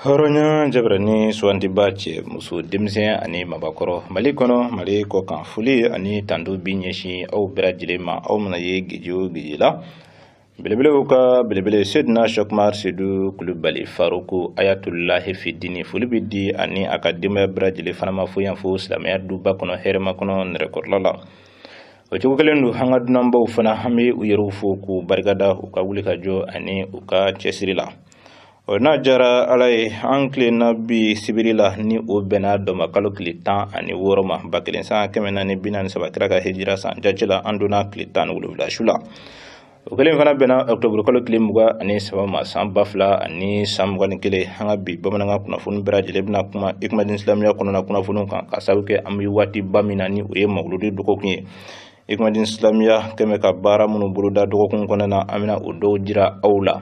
hɔrɔnya jabarani sugandibaa cɛ muso denmisɛn ani mabakɔrɔ mali kɔnɔ mali kɔkan foli ani tando bi ɲɛsin aw bɛɛ lajɛlen ma aw mana ye geji o geji la Belebelew ka belebele sedina sɛkumari sedu kulubali faruku ayatulahi fidini foli bɛ di a ni a ka denbaya bɛɛ lajɛlen fana ma fo yan fo silamɛya duba kɔnɔ hɛrɛmakɔnɔ nɛrɛkɔrɔla la o cogo kelen don an ka dunanbaw fana an bɛ u yɛrɛw fo k'u barikada u ka wuli ka jɔ ani u ka cɛsiri la o n'a jara ala ye an tilenna bi sibiri la ni o bɛnna dɔnba kalo tile tan ani wɔɔrɔ ma ba kelen san kɛmɛ naani bi naani saba kira ka hijira san jace la an donna tile tan ni wolonwula su la o kelen fana bɛnna octobre kalo tile mugan ani saba ma san ba fila ani san mugan ni kelen an ka bi bamanankan kunnafoni bɛɛ lajɛlen bɛna kuma ikumadin silamɛya kɔnɔna kunnafoniw kan ka sabu kɛ an bɛ waatiba min na ni o ye mawuludi dɔgɔkun ye ikumadin silamɛya kɛmɛ ka baara minnu boloda dɔgɔkun kɔnɔna na an bɛna o dɔw jira aw la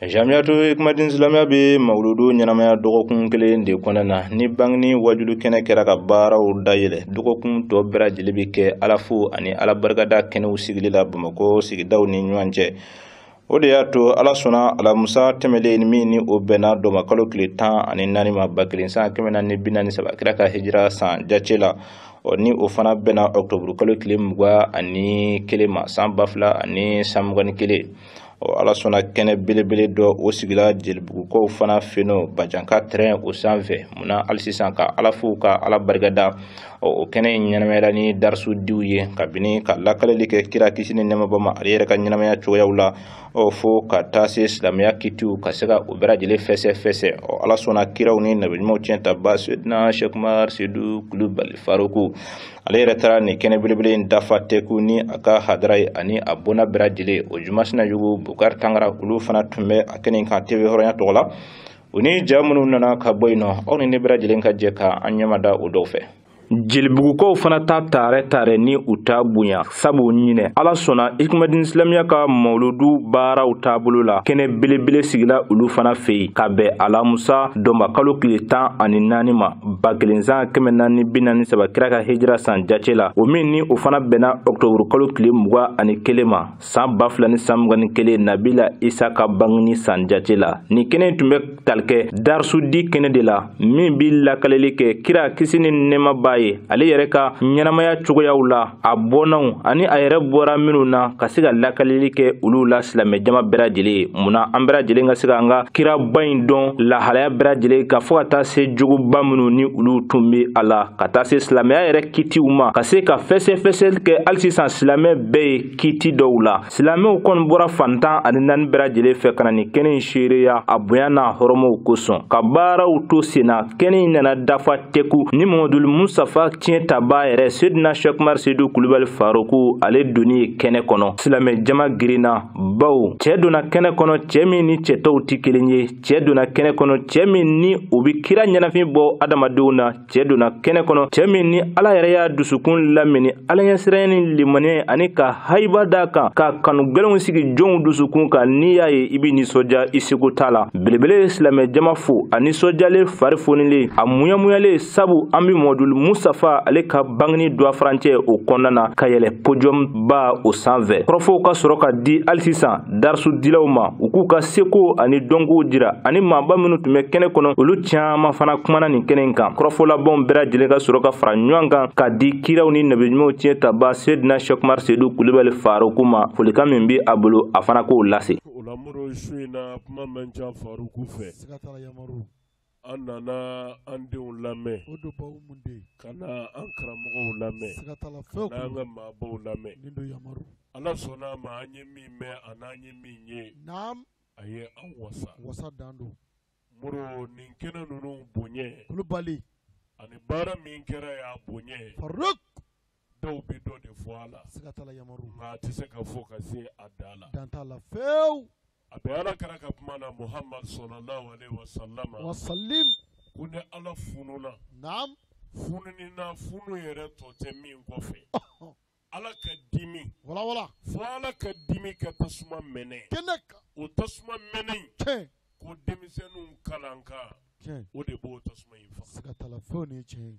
Jamiyatu ikumadin silamɛya bɛ mawuludu ɲɛnamaya dɔgɔkun kelen de kɔnɔna na ni bangini wajulu kɛnɛ kɛra ka baaraw dayɛlɛ dɔgɔkun tɔ bɛɛ lajɛlen bɛ kɛ alafo ani ala barikada kɛnɛw sigili la bamakɔ sigidaw ni ɲɔgɔn cɛ o de y'a to ala sɔnna alamusa tɛmɛlen min ni o bɛnna dɔnba kalo tile tan ani naani ma ba kelen san kɛmɛ naani bi naani saba kira ka hijira san jace la ɔ ni o fana bɛnna ɔkutɔburu kalo tile mugan ani kelen ma san ba fila ani san mugan ni kelen ɔ ala sɔnna kɛnɛ belebele dɔ o sigila jelibugukaw fana fɛ yen nɔ bajanka tɛrɛn o sanfɛ munna hali sisan ka ala fo ka ala barikada ɔ o kɛnɛ in ɲɛnamayala ni darisu diw ye kabini ka lakaleli kɛ kira kisi ni nɛɛma b'a ma ale yɛrɛ ka ɲɛnamaya cogoyaw la ɔ fo ka taa se silamɛya kitiw ka se ka o bɛɛ lajɛlen fɛsɛ fɛsɛ ɔ ala sɔnna kiraw ni nabiɲumanw tiyɛntabaa sedina sɛkumar sedu kulubali faruku ale yɛrɛ taara nin kɛnɛ belebele in dafa tɛku ni a ka hadara ye ani a bɔnna bɛɛ lajɛlen o jumanzana yugu bukari tangara olu fana tun bɛ a kɛnɛ kan teve hɔrɔnya tɔgɔ la u ni ja minnu nana ka bɔ yen nɔ aw ni ne bɛɛ lajɛlen ka jɛ ka an ɲɛmada o dɔw fɛ jelibugukaw fana ta taarɛ taarɛ ni u ta bonya sabu ɲinɛ ala sɔnna ikumadini silamiya ka mawuludu baaraw taabolo la kɛnɛ belebele sigila olu fana fɛ yen ka bɛn alamusa dɔnba kalo tile tan ani naani ma ba kelen san kɛmɛ naani bi naani saba kira ka hijira san jace la o min ni o fana bɛnna ɔktɔburu kalo tile mugan ani kelen ma san ba fila ni san mugan ni kelen nabila isa ka bangini san jace la nin kɛnɛ tun bɛ tali kɛ darisu di kɛnɛ de la min bɛ lakaleli kɛ kira kisi ni nɛɛma b'a ye ale yɛrɛ ka ɲɛnamaya cogoyaw la a bɔnnaw ani a yɛrɛ bɔra minnu na ka se ka lakalili kɛ olu la silamɛjama bɛɛ lajɛlen ye mun na an bɛɛ lajɛlen ka se ka an ka kiraba in dɔn lahalaya bɛɛ lajɛlen ka fɔ ka taa se jogoba minnu ni olu tun bɛ a la ka taa se silamɛya yɛrɛ kitiw ma ka se ka fɛsɛfɛsɛli kɛ hali sisan silamɛ bɛɛ ye kiti dɔw la silamɛw kɔni bɔra fan tan ani naani bɛɛ lajɛlen fɛ ka na nin kɛnɛ in seereya a bonya n'a hɔrɔmɔw kosɔn ka baaraw to sen na kɛnɛ in nana dafa tɛku ni mamadul musafa tiɲɛ tabaa yɛrɛ sedina shɛkumar sedu kulubali faruku ale donni ye kɛnɛ kɔnɔ silamɛ jama girinna baw cɛɛ donna kɛnɛ kɔnɔ cɛɛ min ni cɛ tɔw tɛ kelen ye cɛɛ donna kɛnɛ kɔnɔ cɛɛ min ni o bɛ kira ɲɛnafin bɔ adamadenw na cɛɛ donna kɛnɛ kɔnɔ cɛɛ min ni ala yɛrɛ y'a dusukun lamini alaɲɛsiranya ni limaniya ani ka hayiba d'a kan k'a kanu gwɛlɛnw sigi jɔnw dusukun kan n'i y'a ye i bɛ nisɔndiya i seko t'a la belebele silamɛ jama fo a nisɔndiyalen fari fonilen a muɲamuɲalen sabu an be mɔdul musafa ale ka bangini donba farancɛ o kɔnɔna na ka yɛlɛ podium ba o sanfɛ kɔrɔfɔw ka sɔrɔ ka di hali sisan darisu dilaw ma u k'u ka seko ani dɔnkow jira ani maaba minnu tun bɛ kɛnɛ kɔnɔ olu caaman fana kumana nin kɛnɛ in kan kɔrɔfɔlabanw bɛɛ lajɛlen ka sɔrɔ ka fara ɲɔgɔn kan ka di kiraw ni nabiɲumanw tiɲɛ tabaa sedina shɛkumar sedu kulubali faruku ma folikan min be a bolo a fana k'o lase An nana an denw lamɛn o don baw mun de ka na an karamɔgɔw lamɛn ka na an ka maabaw lamɛn ala sɔnna a ma an ye min mɛn ani an ye min ye a ye an wasa wasa dan don mori ni kɛnɛ ninnu bonya kulubali ani baara min kɛra y'a bonya ye dɔw bɛ dɔ de fɔ a la siga t'a la yama nka a tɛ se ka fɔ ka se a dan la dan t'a la fewu a bɛ ala kira ka kuma na muhamadu sallallahu alaihi wasallam ko ni ala fununa naam fununi na funu yɛrɛ tɔ tɛ min kɔfɛ ala ka dimi wala fo ala ka dimi ka tasuma mɛnɛ kɛnɛ kan o tasuma mɛnɛ in tiɲɛ ko denmisɛnninw kalan kan o de b'o tasuma in faga siga t'a la fewu nin ye tiɲɛ ye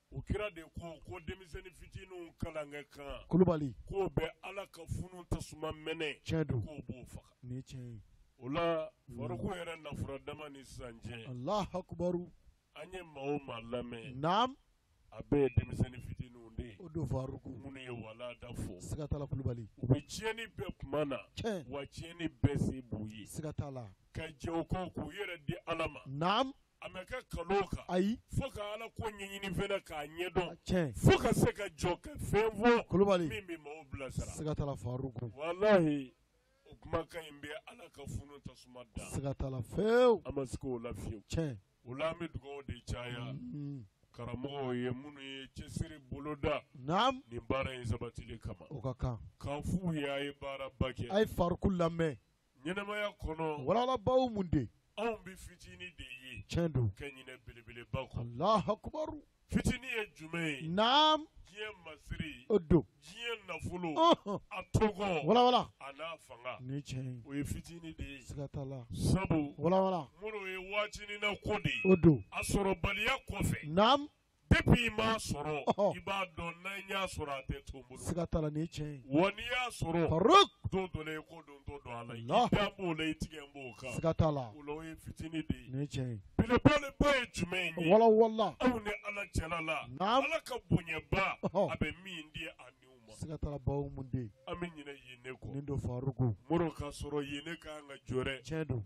u kira de ko ko denmisɛnnin fitininw kalankɛ kan kulubali k'o bɛ ala ka funu tasuma mɛnɛ tiɲɛ don k'o b'o faga nin ye tiɲɛ ye o la faruku mm. yɛrɛ nafolo dama ni sisan cɛ alahu akubaru an ye maa o maa lamɛn naam a bɛɛ ye denmisɛnnin fitininw de ye o don faruku minnu ye walada fɔ siga t'a la kulubali u bɛ tiɲɛni bɛɛ kuma na tiɲɛ wa tiɲɛni bɛɛ se b'u ye siga t'a la ka jɛn o kɔ k'u yɛrɛ di ala ma naam A ma kɛ kalo kan ayi fo ka ala ko ɲɛɲini fɛnɛ k'a ɲɛdɔn fo ka se ka jɔ ka fɛn fɔ kulubali min bɛ maaw bilasira siga t'a la walahi o kumakan in bɛ ala ka funu tasuma da siga t'a la an ma se o la fewu tiɲɛ o la an bɛ dugawu de caya karamɔgɔw ye minnu ye cɛsiri boloda naam nin baara in sabatili kama o ka kan k'a f'u ye a ye baara ba kɛ a ye faruku lamɛn ɲɛnamaya kɔnɔ walawala bawo mun de anw bɛ fitinin de ye tiɲɛ don ka ɲinɛ belebeleba kɔ Allahu akubaru fitinin ye jumɛn ye naam diɲɛ masiri o don diɲɛ nafolo a tɔgɔ walawala a n'a fanga ni tiɲɛ ye o ye fitinin de ye siga t'a la sabu walawala minnu ye waatinin na ko de ye o don a sɔrɔbaliya kɔfɛ naam i m'a sɔrɔ i b'a dɔn n'i y'a sɔrɔ a tɛ to i bolo siga t'a la ni tiɲɛ ye wa n'i y'a sɔrɔ don dɔ la i ko don t'o don ala da b'o la i tigɛ b'o kan siga t'a la o ye fitinin de ye ni tiɲɛ ye belebeleba ye jumɛn ye walawala aw ni ala cɛla la ala ka bonyaba a bɛ min di a niw ma siga t'a la bawo mun de an bɛ ɲinɛ yen ne kɔ nin don faruku muru k'a sɔrɔ yen ne ka kan ka jɔrɔ tiɲɛ don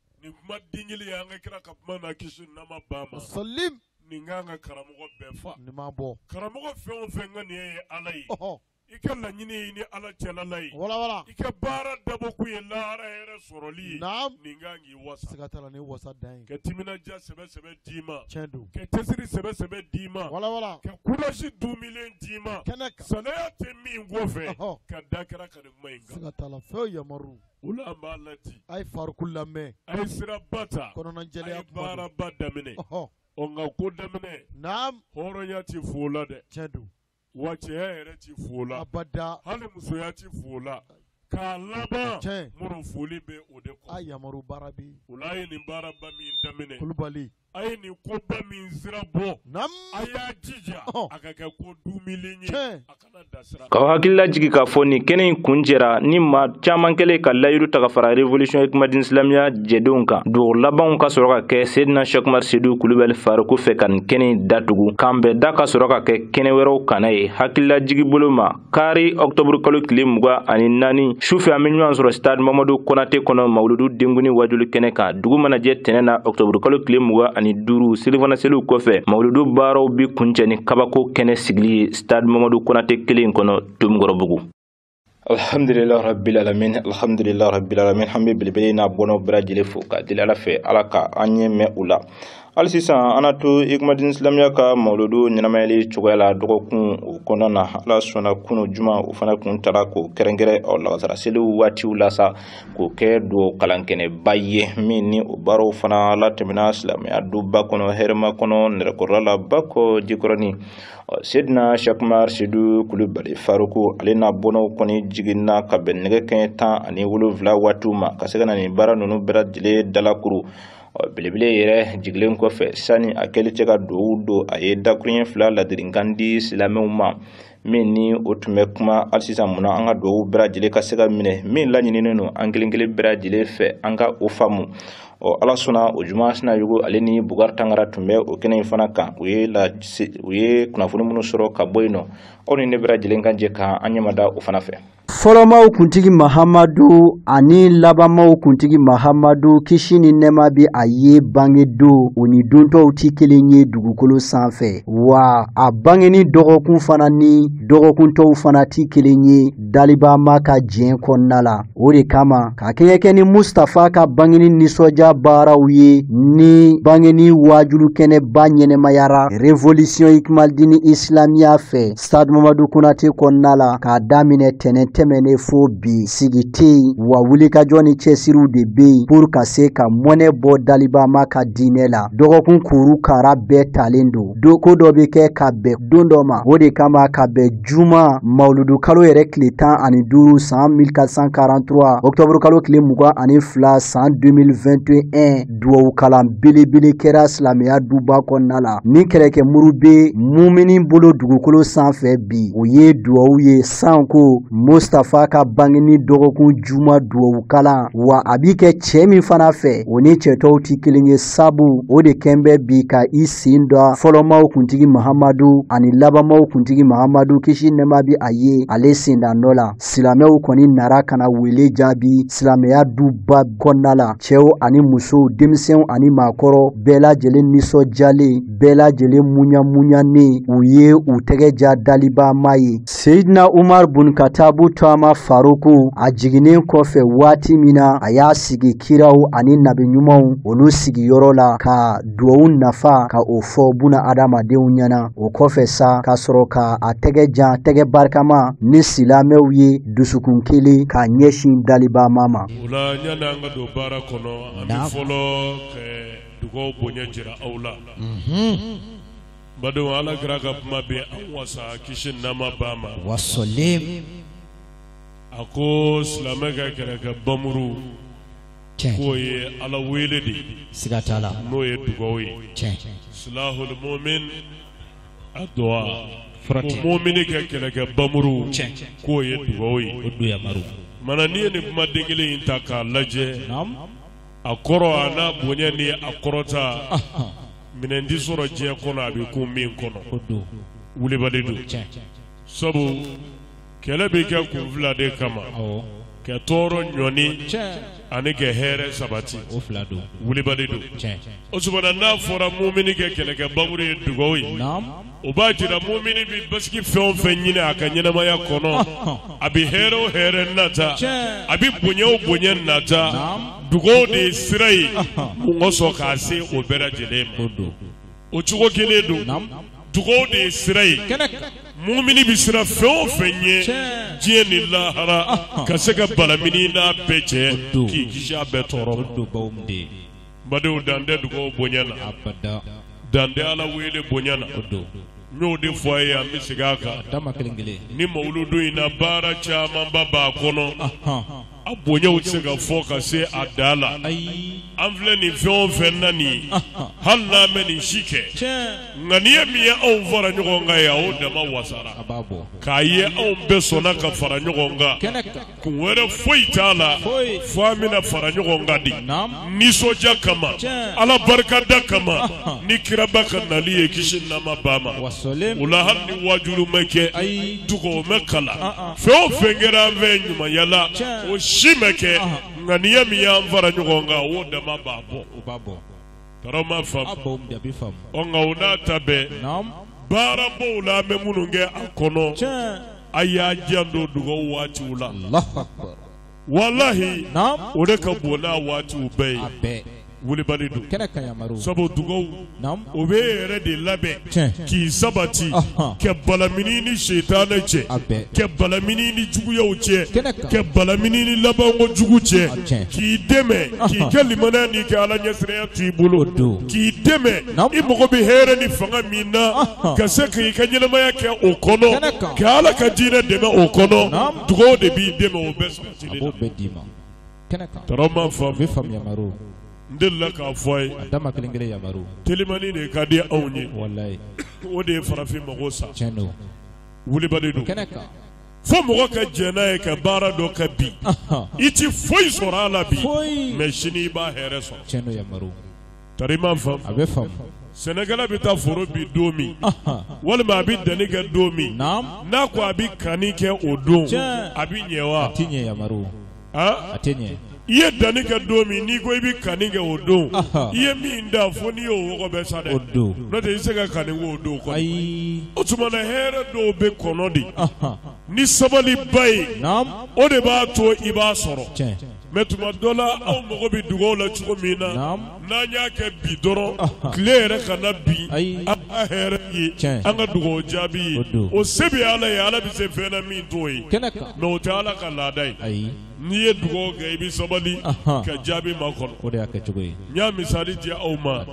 nin kuma den kelen ye an ka kira ka kuma na kisi ni nɛɛma b'a ma, sɔlim, nin ka kan ka karamɔgɔ bɛɛ fa, nin ma bɔ, karamɔgɔ fɛn o fɛn ŋaniya ye Ala ye, ɔhɔ, i ka laɲini ye i ni Ala cɛla la ye, wala wala, i ka baara dabɔ kun ye lahara hɛrɛ sɔrɔli ye, naam, nin ka kan k'i wasa, siga t'a la nin ye wasa dan ye, ka timinandiya sɛbɛ sɛbɛ d'i ma, tiɲɛ don, ka cɛsiri sɛbɛ sɛbɛ d'i ma, wala wala, ka courage duumilen d'i ma, kɛnɛ kan, salaya tɛ min kɔfɛ, ɔhɔ, ka da kira ka nin kuma in kan. siga t'a la, fewu yamaru O la an b'a ladi a ye faruku lamɛn a ye sira ba ta kɔnɔnajɛya baaraba daminɛ ɔ nka ko daminɛ naam hɔrɔnya tɛ f'o la dɛ tiɲɛ don wa cɛya yɛrɛ tɛ f'o la abada hali musoya tɛ f'o la k'a laban tiɲɛ muru foli bɛ o de kɔ yamaru baara bɛ o la a ye nin baaraba min daminɛ kulubali a ye nin koba min sira bɔ a y'a jija a ka kɛ ko duumilen ye a kana dasira k'aw hakili lajigin k'a fɔ nin kɛnɛ in kuncɛra ni maa caman kɛlen ka layiru ta ka fara revolution hikmadin silamɛya jɛdenw kan dugawu labanw ka sɔrɔ ka kɛ sedina shɛkumar sedu kulubali faruku fɛ ka nin kɛnɛ in datugu k'an bɛnda ka sɔrɔ ka kɛ kɛnɛ wɛrɛw kan a ye hakililajigin bolo ma kari ɔktɔburu kalo tile muga ani naani sufɛ an be ɲɔgɔn sɔrɔ stade mamadu konate kɔnɔ mawuludu denkundi wajuli kɛnɛ kan dugu mana jɛ tɛnɛn na ɔktɔburu kalo tile muga ani duuru selifana seliw kɔfɛ mawuludu baaraw be kuncɛ ni kabako kɛnɛ sigili ye stade mamadu konate kelen kɔnɔ tomikɔrɔbugu alhamdulillah rabbil alamin alhamdulillah rabbil alamin an be belebele n'a bɔnɔ bɛɛ lajɛlen fo ka deli ala fɛ ala ka an ɲɛ mɛɛn u la hali sisan an na to ikumadini silamɛya ka mawuludu ɲɛnamayali cogoya la dɔgɔkun o kɔnɔna na ala sɔnna kunu juma o fana kun tara k'o kɛrɛnkɛrɛn ɔ lagasara seliw waatiw la sa k'o kɛ duwawu kalankɛnɛba ye min ni o baaraw fana latɛmɛna silamɛya duba kɔnɔ hɛrɛmakɔnɔ nɛrɛkɔrɔla la bakɔ jikɔrɔni sedina shakumar sidu kulubali faruku ale n'a bɔnnaw kɔni jiginna ka bɛn nɛgɛ kanɲɛ tan ani wolonwula waatiw ma ka se ka na nin baara ninnu bɛɛ lajɛlen dalakuru ɔ belebele yɛrɛ jigilen kɔfɛ sani a kɛli cɛ ka dugawu don a ye dakurunɲɛ fila ladirikan di silamɛw ma min ni o tun bɛ kuma hali sisan mun na an ka dugawu bɛɛ lajɛlen ka se ka minɛ min laɲininen don an kelen kelen bɛɛ lajɛlen fɛ an ka o faamu ɔ ala sɔnna o juma sinayɔgɔ ale ni bukari tangara tun bɛ o kɛnɛ in fana kan u ye kunnafoni minnu sɔrɔ ka bɔ yen nɔ aw ni ne bɛɛ lajɛlen ka jɛ ka an ɲɛmada o fana fɛ fɔlɔmaw kuntigi mahamadu ani labanmaw kuntigi mahamadu kisi ni nɛɛma bi a ye bangedon o ni don tɔw tɛ kelen ye dugukolo sanfɛ wa a bangeni dɔgɔkun fana ni dɔgɔkun tɔw fana tɛ kelen ye dalibama ka diɲɛ kɔnɔna la o de kama ka kɛɲɛ kɛ ni mustafa ka bangeni nisɔndiya baaraw ye ni bangeni waajuli kɛnɛba ɲɛnamayara revolisiɔn ikimalidini isilamiya fɛ Stade Mamadou Konaté kɔnɔna la k'a daminɛ tɛnɛn tɛmɛnen fo bi sigi tɛ yen wa wulikajɔ ni cɛsiriw de bɛ yen pour ka se ka mɔnɛ bɔ dalibama ka diinɛ la dɔgɔkun kuru kara bɛɛ talen don don ko dɔ bɛ kɛ ka bɛn don dɔ ma o de kama ka bɛn juma mawuludu kalo yɛrɛ tile tan ani duuru san 1443 octobre kalo tile mugan ani fila san 2021 duwawu kalan belebele kɛra silamɛya duba kɔnɔna la ni kɛlɛkɛ muru bɛ mumini bolo dugukolo sanfɛ bi o ye duwawu ye sanko mustafa ka bangeni dɔgɔkun juma duwawu kalan wa a bi kɛ cɛ min fana fɛ o ni cɛ tɔw tɛ kelen ye sabu o de kɛn bɛ bi ka i sen don fɔlɔmaw kuntigi mahamadu ani labanmaw kuntigi mahamadu kisi nɛɛma bi a ye ale sendanɔ la silamɛw kɔni nara ka na wele jaabi silamɛya duba kɔnɔna la cɛw ani musow denmisɛnw ani maakɔrɔ bɛɛ lajɛlen nisɔndiyalen bɛɛ lajɛlen munyamunyanen u ye u tɛgɛ jan dalibama ye seyidina umar bun katabu tɔgɔma faruku a jiginnen kɔfɛ waati min na a y'a sigi kiraw ani nabi ɲumanw olu sigiyɔrɔ la ka duwawu nafa ka o fɔ buna adamadenw ɲɛna o kɔfɛ sa ka sɔrɔ ka a tɛgɛ jan tɛgɛ barikama ni silamɛw ye dusukun kelen ka ɲɛsin dalibama ma o la yani an ka don baara kɔnɔ an bɛ fɔlɔ ka dugaw bonya jira aw la badenw ala kira ka kuma bɛ an wasa kisi nɛɛma b'a ma wasalam a ko silamɛ ka kɛlɛkɛ bamuru Tiɲɛ. k'o ye Ala wele de ye Siga t'a la. n'o ye dugawu ye Tiɲɛ. silahul mu'min a duwa Fura ko tɛ. mu'mini ka kɛlɛkɛ bamuru Tiɲɛ. k'o ye dugawu ye O don yamaru. mana n'i ye nin kumaden kelen in ta k'a lajɛ Naam. a kɔrɔ a n'a bonya ni a kɔrɔta Ahan. minɛn tɛ sɔrɔ diɲɛ kɔnɔ a bɛ kun min kɔnɔ O don. wulibali don Tiɲɛ. sabu kɛlɛ bɛ kɛ kun fila de kama ka tɔɔrɔ ɲɔni ani kɛ hɛrɛ sabati wulibali don o tuma na n'a fɔra mumini kɛ kɛlɛkɛ bamuru ye dugaw ye o b'a jira mumini bɛ basigi fɛn o fɛn ɲini a ka ɲɛnamaya kɔnɔ a bɛ hɛrɛ o hɛrɛ nata a bɛ bonya o bonya nata dugaw de ye sira ye mɔgɔ sɔn k'a se o bɛɛ lajɛlen ma o don o cogo kelen don Naam. dugaw de ye sira ye kɛnɛ kan mumini bɛ siran fɛn o fɛn ɲɛ Tiɲɛ. diɲɛ ni lahara Ahan. ka se ka balamini n'a bɛɛ cɛ O don. k'i kisi a bɛɛ tɔɔrɔ ma o don baw min de ye badenw dan tɛ dugaw bonya na abada dan tɛ ala wele bonya na o don n y'o de fɔ a ye an bɛ segin a kan dama kelen kelen nin mawuludu in na baara camanba b'a kɔnɔ ahan A bonyaw tɛ se ka fɔ ka se a da la an filɛ nin fɛn o fɛn na nin hali n'an ma nin si kɛ nka nin ye min ye anw fara ɲɔgɔn kan yan o dama wasara k'a ye anw bɛɛ sɔnna ka fara ɲɔgɔn kan kun wɛrɛ foyi t'a la fo an bɛna fara ɲɔgɔn kan de nisɔndiya kama ala barikada kama ni kiraba ka nali ye kisi ni nɛɛma b'a ma o la hali ni wajulu ma kɛ dugaw ma kalan Fɛn o fɛn kɛra an fɛ ɲumanya la o si ma kɛ nka nin ye min y'an fara ɲɔgɔn kan o dama b'a bɔ o b'a bɔ tarama faamu nka o n'a ta bɛɛ baarabaw la an bɛ minnu kɛ a kɔnɔ a y'a janto dugaw waatiw la walahi o de ka bon n'a waatiw bɛɛ ye, a bɛɛ, wulibali don, kɛnɛ kan, yamaru, sabu dugawu o bɛ e yɛrɛ de labɛn, tiɲɛ, k'i sabati, ɔhɔ, kɛ balamini ni sitanɛ cɛ, a bɛɛ, kɛ balamini ni juguyaw cɛ, kɛnɛ kan, kɛ balamini ni labanko jugu cɛ, a tiɲɛ, k'i dɛmɛ k'i ka limaniya n'i kɛ Ala ɲɛsiranya to i bolo, o don, k'i dɛmɛ i mago bɛ hɛrɛ ni fanga min na ka se k'i ka ɲɛnamaya kɛ o kɔnɔ ka ala ka diinɛ dɛmɛ o kɔnɔ dugaw de b'i dɛmɛ o bɛ n delila k'a fɔ a ye telimani de ka di anw ye walayi o de ye farafin mago sa wulibali don fo mɔgɔ ka jɛn n'a ye ka baara dɔ kɛ bi i tɛ foyi sɔrɔ a la bi mɛ sini i b'a hɛrɛ sɔrɔ Tari i m'a faamu, a bɛ faamu, sɛnɛkɛla bɛ taa foro bin don min, anhan, walima a bɛ danni kɛ don min, naamu, n'a ko a bɛ kanni kɛ o don, tiɲɛ, a bɛ ɲɛ wa? A tɛ ɲɛ yamaru, an, a tɛ ɲɛ. I ye danni kɛ don min n'i ko i bɛ kanni kɛ o don, anhan, i ye min dan fo n'i y'o wɔgɔbɛ sa dɛ, o don, n'o tɛ i tɛ se ka kanni k'o don kɔni, ayi, o tuma na hɛrɛ dɔw bɛ kɔnɔ de, anhan, ni sabaliba ye, naamu, o de b'a to i b'a sɔrɔ, tiɲɛ. Mɛ tuma dɔ la aw mago bɛ dugawu la cogo min na n'an y'a kɛ bi dɔrɔn tile yɛrɛ kana bin an ka hɛrɛ ye an ka dugawu jaabi ye o se bɛ ala ye ala bɛ se fɛn na min t'o ye kɛnɛ kan mɛ o tɛ ala ka laada ye ayi n'i ye dugawu kɛ i bɛ sabali ka jaabi makɔnɔ o de y'a kɛ cogo ye n y'a misali di aw ma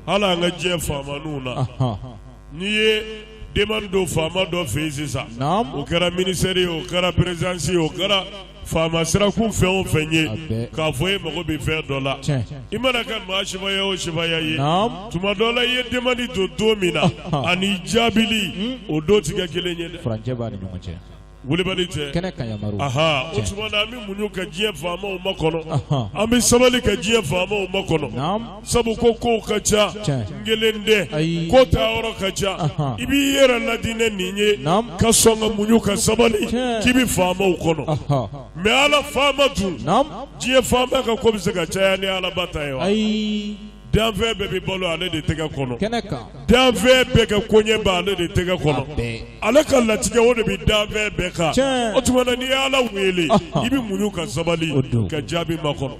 hali an ka diɲɛ faama ninnu na N'i ye demande don faama dɔ fɛ yen sisan, naamu, o kɛra ministère ye o, o kɛra présidence ye o, o kɛra faama sirakun fɛn o fɛn ye, a bɛɛ, k'a fɔ e mago bɛ fɛn dɔ la, tiɲɛ, i mana kɛ maa sifaya o sifaya ye, naamu, tuma dɔ la i ye demande don don min na, ɔhɔ, ani jaabili, un, o don tɛ kɛ kelen ye dɛ, furancɛ b'a ni ɲɔgɔn cɛ. Wulibali tɛ kɛnɛ kan yamaru aha o tuma na an bɛ muɲu ka diɲɛ faamaw makɔnɔ Ɔhɔn. an bɛ sabali ka diɲɛ faamaw makɔnɔ Naam. sabu ko kow ka ca Tiɲɛ. n kelen tɛ Ayi. ko taa yɔrɔ ka ca Ɔhɔn. i b'i yɛrɛ laadi ni nin ye Naam. ka sɔn ka muɲu ka sabali Tiɲɛ. k'i bɛ faamaw kɔnɔ Ɔhɔn. mɛ ala faama dun Naam. diɲɛ faama ka ko bɛ se ka caya ni alaba ta ye wa ayi Danfɛn bɛɛ bɛ balo ale de tɛgɛ kɔnɔ danfɛn bɛɛ ka koɲɛ bɛ ale de tɛgɛ kɔnɔ ale ka latigɛ o de bɛ danfɛn bɛɛ kan o tuma na n'i ye ala wele i bɛ muɲu ka sabali ka jaabi makɔnɔ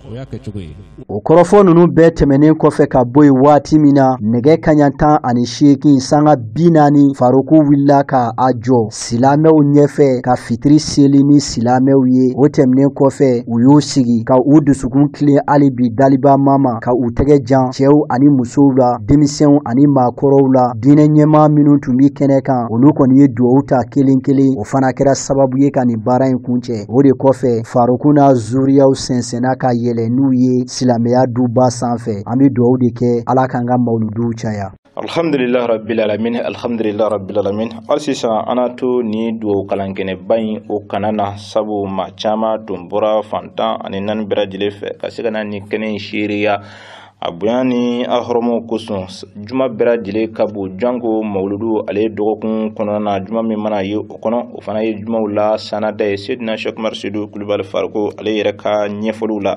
o kɔrɔfɔ ninnu bɛɛ tɛmɛnen kɔfɛ ka bɔ yen waati min na nɛgɛ kaɲa tan ani seegin sanga bi naani faroku wulila ka a jɔ silamɛw ɲɛfɛ ka fitiri seli ni silamɛw ye o tɛmɛnen kɔfɛ u y'u sigi ka u dusukun tilen hali bi daliba maa ma ka u tɛgɛ jan cɛw ani musow la denmisɛnw ani maakɔrɔw la diinɛ ɲɛmaa minnu tun bɛ kɛnɛ kan olu kɔni ye duwawu ta kelen kelen o fana kɛra sababu ye ka nin baara in kuncɛ o de kɔfɛ faroku n'a zuriyaw sɛnsɛnna ka yɛlɛ n'u ye silamɛya duba sanfɛ an bɛ duwawu de kɛ ala k'an ka mawuluduw caya alhamdulillah rabbil alamin alhamdulillah rabbil alamin hali sisan an na to ni dugawu kalankɛnɛba in o kana na sabu maa caman tun bɔra fan tan ani naani bɛɛ lajɛlen fɛ ka se ka na ni kɛnɛ in seereya a bonya ni a hɔrɔmaw kosɔn juma bɛɛ lajɛlen ka bon janko mawuludu ale dɔgɔkun kɔnɔna na juma min mana ye o kɔnɔ o fana ye jumaw la sanada ye sedina sɛki umaru sedu kulubali fariko ale yɛrɛ ka ɲɛfɔliw la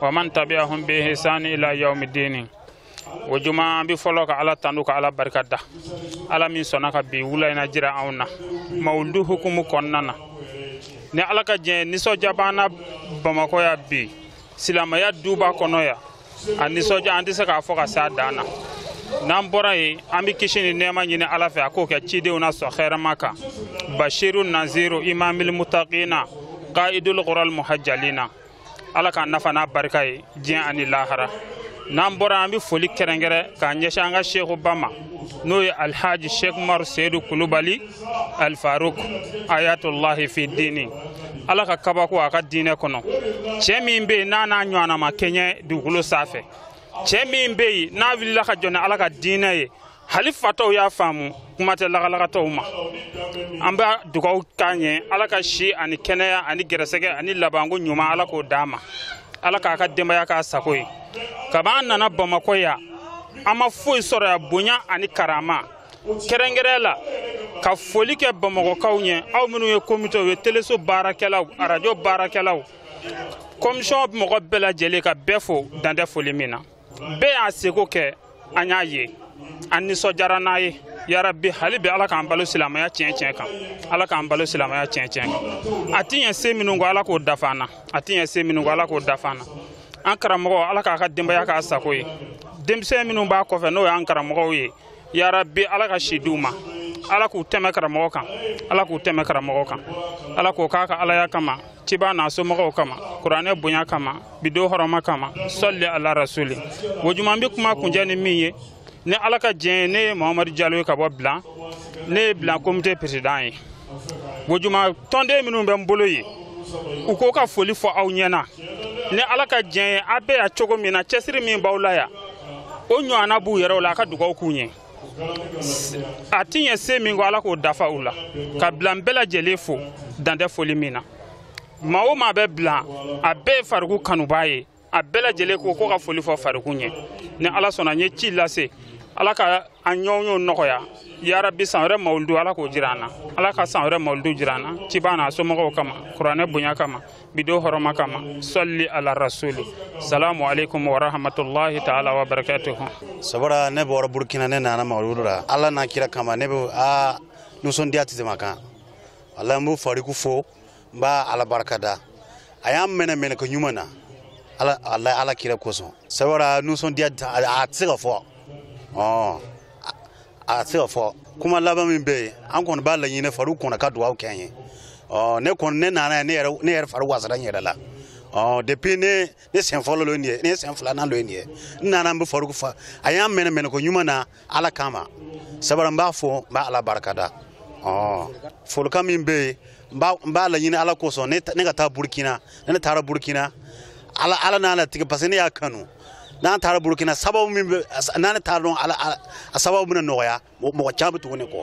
wa man tabi'ahum bi ihsan ila yawmiddin o juma an bɛ fɔlɔ ka ala tanu ka ala barika da ala min sɔnna ka bi wula in jira anw na mawuludu hukumu kɔnɔna na ni ala ka diɲɛ nisɔndiya b'an na bamakɔ ya bi silamɛya duba kɔnɔ ya a nisɔndiya an tɛ se k'a fɔ ka se a dan na n'an bɔra yen an bɛ kisi ni nɛɛma ɲini ala fɛ a k'o kɛ cidenw na sɔn hɛrɛma kan bashiru naziru imamil mutaqina qaidul qural muhajjalina ala k'an nafa n'a barika ye diɲɛ ani lahara n'an bɔra an bɛ foli kɛrɛnkɛrɛn k'a ɲɛsin an ka sheikhu ba ma n'o ye alhaji sheikh umaru seyidu kulubali alfaruk ayatolahi fi dini ala ka kabako a ka diinɛ kɔnɔ cɛ min bɛ yen n'a n'a ɲɔgɔnna ma kɛɲɛ dugukolo sanfɛ cɛ min bɛ yen n'a wulila ka jɔ ni ala ka diinɛ ye hali fatɔw y'a faamu kuma tɛ lagalagatɔw ma an bɛ dugaw k'a ɲɛ ala ka si ani kɛnɛya ani gɛrɛsɛgɛ ani labanko ɲuman ala k'o d'a ma ala k'a ka denbaya k'a sago ye kab'an nana bamakɔ ya an ma foyi sɔrɔ ya bonya ani karama kɛrɛnkɛrɛn la ka foli kɛ bamakɔkaw ɲɛ aw minnu ye komitew ye teleso baarakɛlaw arajo baarakɛlaw kɔmisɔn mɔgɔ bɛɛ lajɛlen ka bɛɛ fo dantɛ foli min na bɛɛ y'a seko kɛ an y'a ye an nisɔndiyara n'a ye yarabi hali bi ala k'an balo silamaya tiɲɛ tiɲɛ kan ala k'an balo silamaya tiɲɛ tiɲɛ kan a ti ɲɛ se minnu kɔ ala k'o dafa an na a ti ɲɛ se minnu kɔ ala k'o dafa an na an karamɔgɔ ala k'a ka denbaya k'a sago ye denmisɛn minnu b'a kɔfɛ n'o y'an karamɔgɔw ye ya rabbi ala ka si d'u ma ala k'u tɛmɛ karamɔgɔ kan ala k'u tɛmɛ karamɔgɔ kan ala k'o k'a ka alaya kama ciba n'a somɔgɔw kama kuranɛ bonya kama bi don hɔrɔma kama sɔli ala rasuli o juma n bɛ kuma kuncɛ ni min ye ni ala ka jɛn ye ne ye muhamadu jalo ye ka bɔ bilan ne ye bilan komite peresidan ye o juma tɔnden minnu bɛ n bolo ye u ko ka foli fɔ aw ɲɛna ni ala ka diɲɛ ye a bɛ yan cogo min na cɛsiri min b'aw la yan o ɲɔgɔnna b'u yɛrɛw la a ka dugaw k'u ɲɛ a ti ɲɛ se min kɔ ala k'o dafa u la ka bilan bɛɛ lajɛlen fo dantɛ foli min na maa o maa bɛ bilan a bɛɛ ye fariku kanubaa ye a bɛɛ lajɛlen ko ko ka foli fɔ fariku ɲɛ ni ala sɔnna n ye ci lase ala ka an ɲɔgɔnye nɔgɔya yarabi san wɛrɛ mawulidu ala k'o jira an na ala ka san wɛrɛ mawulidu jira an na ciba n'a somɔgɔw kama kuranɛ bonya kama bi don hɔrɔma kama sɔli ala rasuli salamu aleykum warahmatulahi taala wa barakatuhu sabara ne bɔra burkina ne nana mawulidu la ala n'a kira kama ne bɛ a nisɔndiya tɛ tɛmɛ kan ala n b'u fariku fo n b'a ala barika da a y'an minɛ minɛko ɲuman na ala ala ala kira kosɔn sabara nisɔndiya a tɛ se ka fɔ ɔ a tɛ se ka fɔ kuma laban min bɛ yen an kɔni b'a laɲini faruku kɔnɔ ka dugawu kɛ an ye ɔ ne kɔni ne nana ne yɛrɛ ne yɛrɛ fari wasara n yɛrɛ la ɔ depuis ne ne sen fɔlɔ lo nin ye ne sen filanan lo nin ye n nana n bɛ faruku fo a y'an minɛ minɛko ɲuman na ala kama sabula n b'a fo n b'a ala barikada folikan min bɛ yen n b'a laɲini ala kosɔn ne ka taa burukina ni ne taara burukina ala ala n'a latigɛ parce que ne y'a kanu n'an taara burukina sababu min bɛ n'an taara dɔn a sababu bɛna nɔgɔya mɔgɔ caman bɛ tugu ne kɔ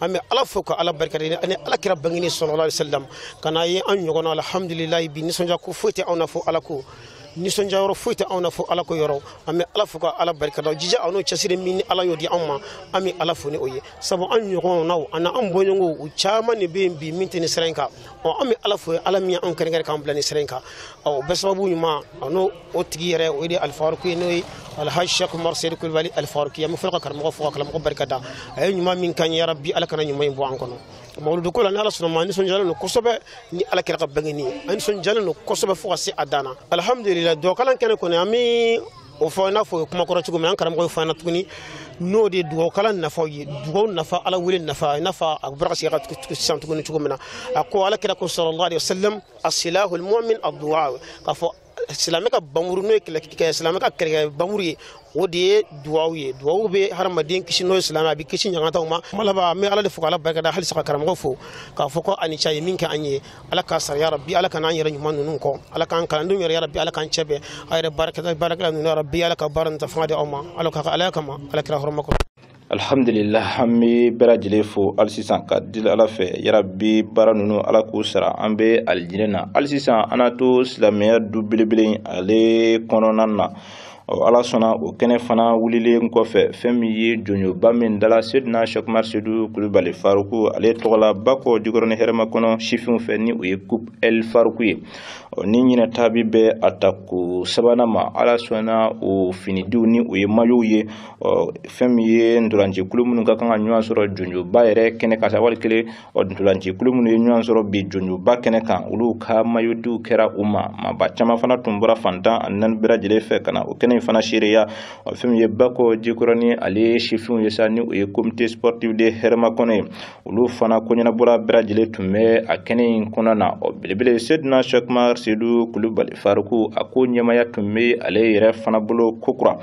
an bɛ ala fo ka ala barika da ani ala kira bangeni sallallahu alaihi wasallam ka n'a ye an ɲɔgɔn alhamdulilayi bi nisɔndiya ko foyi tɛ anw na fo ala ko nisɔndiya yɔrɔ foyi tɛ anw na fo ala ko yɔrɔ an bɛ ala fo ka ala barika da jija an'o cɛsiri min ni ala y'o di anw ma an bɛ ala fo ni o ye sabu an ɲɔgɔnnaw ani an bɔɲɔgɔnw u caman de bɛ yen bi min tɛ nin sira in kan ɔ an bɛ ala fo ye ala min ye anw kɛrɛnkɛrɛn k'an bila nin sira in kan o bɛɛ sababu ɲuman an'o o tigi yɛrɛ o de alifaruku ye n'o ye alhaji shɛku umaru seyidu kulubali alifaruku ye an bɛ fɔlɔ ka karamɔgɔ fo ka karamɔgɔ barika da a ye ɲuman min k'an ye yarabi ala kana ɲuman in bɔ an kɔnɔ mawuludu ko la ni ala sɔnna ma nisɔndiyalen don kosɛbɛ ni ala kira ka bangeni ye an nisɔndiyalen don kosɛbɛ fo ka se a dan na alihamudulila dugawukalan kɛnɛ kɔni an bɛ o fɔ i n'a fɔ o ye kuma kɔrɔ cogo min an karamɔgɔ ye fɔ an na tuguni n'o de ye dugawukalan nafaw ye dugawu nafa ala wele nafa i n'a fɔ a bɔra ka segin ka tugu sisan tuguni cogo min na a ko ala kira ko sallallahu alaihi wasallam asilahu almu'min addu'a k'a fɔ silamɛ ka bamuru n'o ye kɛlɛkɛ silamɛ ka kɛlɛkɛ bamuru ye o de ye duwawu ye duwawu bɛ hadamaden kisi n'o ye silamɛ a bɛ kisi ɲangataw ma kuma laban an bɛ ala de fo k'ala barikada halisa ka karamɔgɔ fo k'a fɔ ko a ni ce a ye min kɛ an ye ala k'a sara yarabi ala kan'an yɛrɛ ɲuman ninnu kɔ ala k'an kalandenw yarabi ala k'an cɛ bɛn a yɛrɛ baarakɛla baarakɛla ninnu yarabi ala ka baara nin ta fanga di aw ma ala ka ala kama ala kira hɔrɔma kɔnɔ alihamdulila an bɛ bɛɛ lajɛlen fo hali sisan ka deli ala fɛ yarabi baara ninnu ala k'u sara an bɛ alijinɛ na hali sisan an na to silamɛya du belebele ale kɔnɔna na ala sɔnna o kɛnɛ fana wulilen kɔfɛ fɛn min ye jɔnjɔnba min dala seyidina shɛku umaru seyidu kulubali faruku ale tɔgɔla bakɔ jikɔrɔni hɛrɛmakɔnɔ sifinw fɛ ni o ye coupe el faruku ye ni ɲinɛ ta bɛ bɛn a tako sabanan ma ala sɔnna o finidiw ni o ye mayow ye ɔ fɛn min ye ntolanci kulu minnu ka kan ka ɲɔgɔn sɔrɔ jɔnjɔnba yɛrɛ kɛnɛ kan wali kelen ɔ ntolanci kulu minnu ye ɲɔgɔn sɔrɔ bi jɔnjɔnba kɛnɛ kan olu ka mayodiw kɛra u ma maaba caman fana tun bɔra fan tan ani naani bɛɛ lajɛlen fɛ ka na o kɛnɛ in fana seereya ɔ fɛn min ye bakɔ jikɔrɔni ale sifinw ye sa ni o ye comité sportif de hɛrɛmakɔnɔ ye olu fana koɲɛnabɔla bɛɛ lajɛlen tun bɛ a kɛnɛ in kɔnɔ na ɔ belebele seyidina sɛkumar sedu kulubali Faruku a ko ɲɛmaaya tun bɛ ale yɛrɛ fana bolo kokura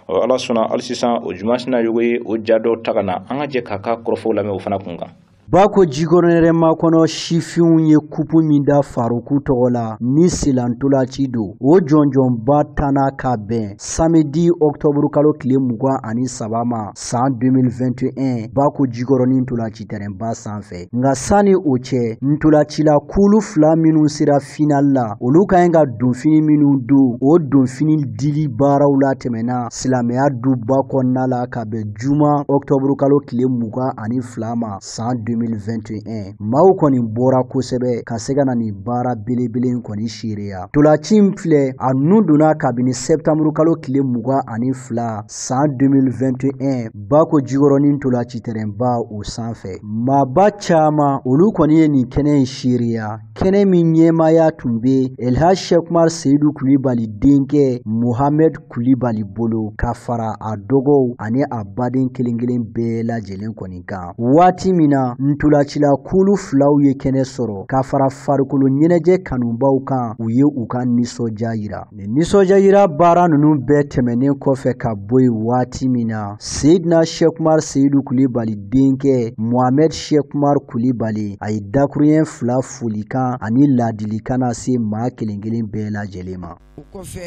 ɔ ala sɔnna hali sisan Ojuma Sinayogo ye o ja dɔw ta ka na an ka jɛ k'a ka kɔrɔfɔw lamɛn o fana kun kan Bakojikɔrɔni Hɛrɛmakɔnɔ sifinw ye kupu min da Faruku tɔgɔ la ni selantolaci don o jɔnjɔnba tanna ka bɛn samedi ɔktɔburukalo tile mugan ani saba ma san 2021 Bakojikɔrɔni ntolaci tɛrɛnba sanfɛ nka sanni o cɛ ntolacila kulu fila minnu sera final la olu ka ɲi ka donfini minnu don o donfini dili baaraw latɛmɛna silamɛya duba kɔnɔna la ka bɛn juma ɔktɔburu kalo tile mugan ani fila ma san 2021 maaw kɔni bɔra kosɛbɛ ka se ka na nin baara belebele in kɔni seereya ntolaci filɛ a nun donna kabini sɛptanburu kalo tile mugan ani fila san 2021 Bakojikɔrɔni ntolaci tɛrɛnba o sanfɛ maaba caman olu kɔni ye nin kɛnɛ in seereya kɛnɛ min ɲɛmaaya tun be elhaj shekumar seyidu kulibali denkɛ mohamɛd kulibali bolo ka fara a dɔgɔw ani a baden kelen kelen bɛɛ lajɛlen kɔni kan waati min na ntolacila kulu filaw ye kɛnɛ sɔrɔ ka fara farikolo ɲɛnajɛ kanubaw kan u ye u ka nisɔndiya yira Nin nisɔndiyayira baara ninnu bɛɛ tɛmɛnen kɔfɛ ka bɔ yen waati min na seyidina sɛkumar seyidu kulibali denkɛ mohamɛd sɛkumar kulibali a ye dakuruɲɛ fila folikan ani laadilikan nase maa kelen kelen bɛɛ lajɛlen ma o kɔfɛ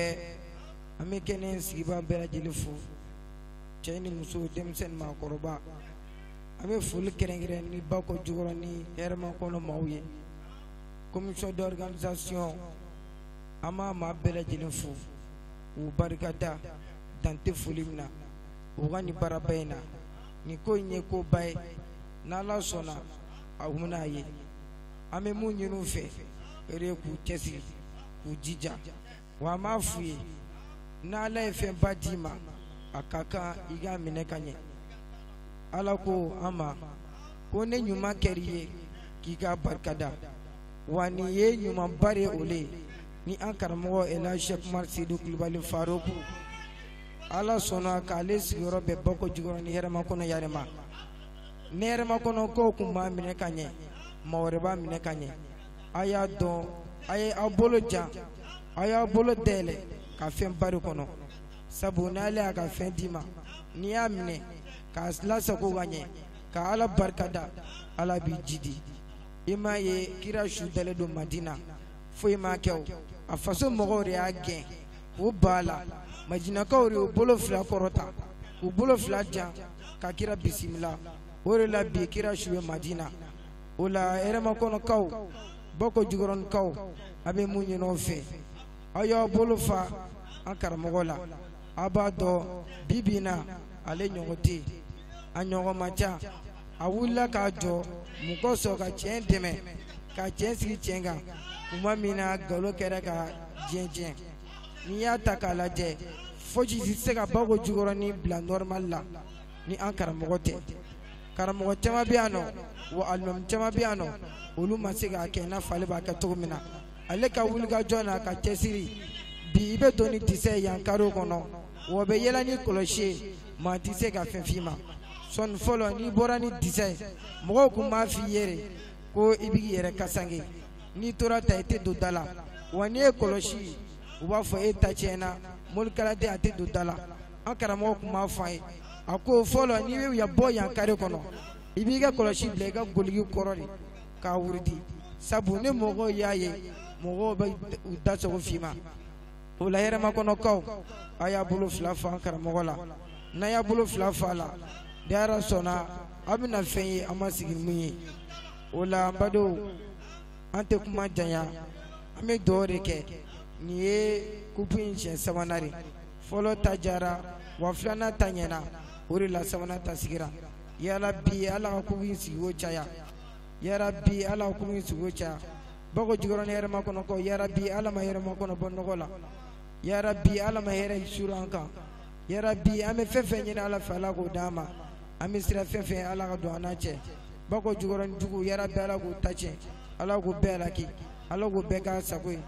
an bɛ kɛnɛ sigibaa bɛɛ lajɛlen fo cɛ ni muso denmisɛn ni maakɔrɔba an bɛ foli kɛrɛnkɛrɛn nin Bakojikɔrɔni Hɛrɛmakɔnɔ maaw ye commission d'organisation an b'a maa bɛɛ lajɛlen fo u barika da dan tɛ foli min na u ka nin baaraba in na nin ko in ye koba ye n'ala sɔnna a bɛna a ye an bɛ mun ɲini u fɛ o de ye k'u cɛsiri k'u jija wa an b'a f'u ye n'ala ye fɛnba d'i ma a ka kan i k'a minɛ ka ɲɛ ala ko an ma ko ni ɲuman kɛr'i ye k'i ka barika da wa nin ye ɲumanba de o ye ni an karamɔgɔ elhaj sɛkumar sedu kulubali Faruku ala sɔnna k'ale sigiyɔrɔ bɛn Bakojikɔrɔni Hɛrɛmakɔnɔ yan de ma ni Hɛrɛmakɔnɔkaw kun m'a minɛ ka ɲɛ maa wɛrɛ b'a minɛ ka ɲɛ a y'a dɔn a ye aw bolo jan a y'a bolo dayɛlɛ ka fɛnba de kɔnɔ sabu n'ala y'a ka fɛn d'i ma n'i y'a minɛ k'a lasago ka ɲɛ ka ala barika da ala b'i jidi i m'a ye kira su dalen don madina foyi m'a kɛ o a faso mɔgɔw de y'a gɛn k'u ban a la madinakaw de y'u bolo fila kɔrɔta k'u bolo fila jan ka kira bisimila o de la bi kira su ye madina o la hɛrɛmakɔnɔkaw bako jukɔrɔnikaw a bɛ mun ɲin'aw fɛ aw y'aw bolo fa an karamɔgɔ la aw b'a dɔn bi bi in na ale ɲɔgɔn tɛ yen a ɲɔgɔn ma ca a wulila k'a jɔ mun kosɔn ka tiɲɛ dɛmɛ ka tiɲɛ sigi tiɲɛ kan tuma min na nkalon kɛra ka diɲɛ tiɲɛ n'i y'a ta k'a lajɛ fosi tɛ se ka bako jukɔrɔni bila nɔrɔmali la ni an karamɔgɔ tɛ karamɔgɔ caman bɛ yan nɔ wa alimami caman bɛ yan nɔ olu ma se k'a kɛ i n'a fɔ ale b'a kɛ cogo min na ale ka wulikajɔ n'a ka cɛsiri bi i bɛ don ni disa ye yan karew kɔnɔ wa bɛ yaala ni kɔlɔsi ye maa tɛ se ka fɛn f'i ma sɔɔni fɔlɔ n'i bɔra ni disa ye mɔgɔw tun b'a f'i ye de ko i b'i yɛrɛ kasange n'i tora ta i tɛ don da la wa n'i ye kɔlɔsi u b'a fɔ e ta tiɲɛna morikalanden a tɛ don da la an karamɔgɔ tun b'a fɔ an ye a ko fɔlɔ n'i bɛ ya bɔ yan kare kɔnɔ i b'i ka kɔlɔsi bila i ka doloki kɔrɔ de k'a wurudi sabu ni mɔgɔw y'a ye mɔgɔw bɛ u da sago f'i ma o la hɛrɛmakɔnɔkaw a y'a bolo fila fa an karamɔgɔ la n'a y'a bolo fila fa a la ni ala sɔnna a bɛna fɛn ye an ma sigi ni mun ye o la an badenw an tɛ kuma janya an bɛ duwawu de kɛ nin ye kupu in siɲɛ sabanan de fɔlɔ ta jara wa filanan ta ɲɛna o de la sabanan ta sigira yarabi ala ka kupu in sigiko caya yarabi ala ka ko in sugu caya bako jukɔrɔni hɛrɛmakɔnɔkaw yarabi ala ma hɛrɛmakɔnɔ bɔ nɔgɔ la yarabi ala ma hɛrɛ suuru an kan yarabi an bɛ fɛn fɛn ɲini ala fɛ ala k'o d'an ma an bɛ siran fɛn fɛn ala ka don an n'a cɛ bako jukɔrɔni jugu yarabi ala k'u ta tiɲɛ ala k'u bɛɛ halaki ala k'u bɛɛ ka sago ye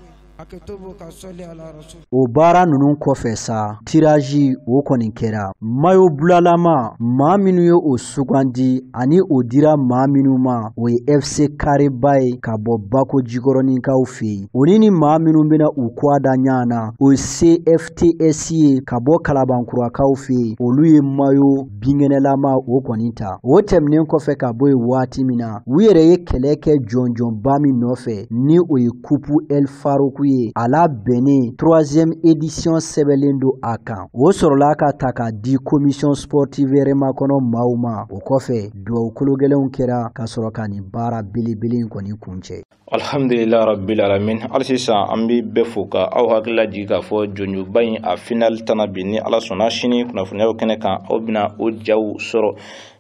O baara ninnu kɔfɛ sa tirazi o kɔni kɛra mayo bulalama maa minnu ye o sugandi ani o dira maa minnu ma o ye fc kareba ye ka bɔ bako jikɔrɔninkaw fɛ yen o ni ni maa minnu bɛna u kɔgɔ da ɲɔgɔn na o ye cfts ye ka bɔ kalabankurakaw fɛ yen olu ye mayo binkɛnɛlama o kɔni ta o tɛmɛnen kɔfɛ ka bɔ yen waati min na u yɛrɛ ye kɛlɛ kɛ jɔnjɔnba min nɔfɛ ni o ye kupu el faruku ye a labɛnni troisième édition sɛbɛnlen don a kan o sɔrɔla ka ta ka di commission sportive hɛrɛmakɔnɔ maaw ma o kɔfɛ duwawu kologɛlɛnw kɛra ka sɔrɔ ka nin baara belebele in kɔni kuncɛ alhamdulila rabbil alamin hali sisan an bɛ bɛɛ fo ka aw hakili lajigin k'a fɔ jɔnjɔnba in a final tanna bi ni ala sɔnna sini kunnafoniyaw kɛnɛ kan aw bɛna o jaw sɔrɔ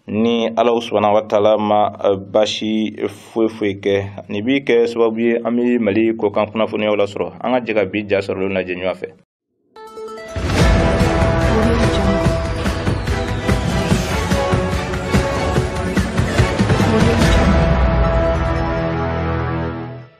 ni ala subhanahu wa taala ma eh, basi foyi foyi kɛ nin b'i kɛ sababu ye an bɛ mali kɔkan kunnafoniyaw lasɔrɔ an ka jɛ ka bi ja sɔrɔlen lajɛ ɲɔgɔn fɛ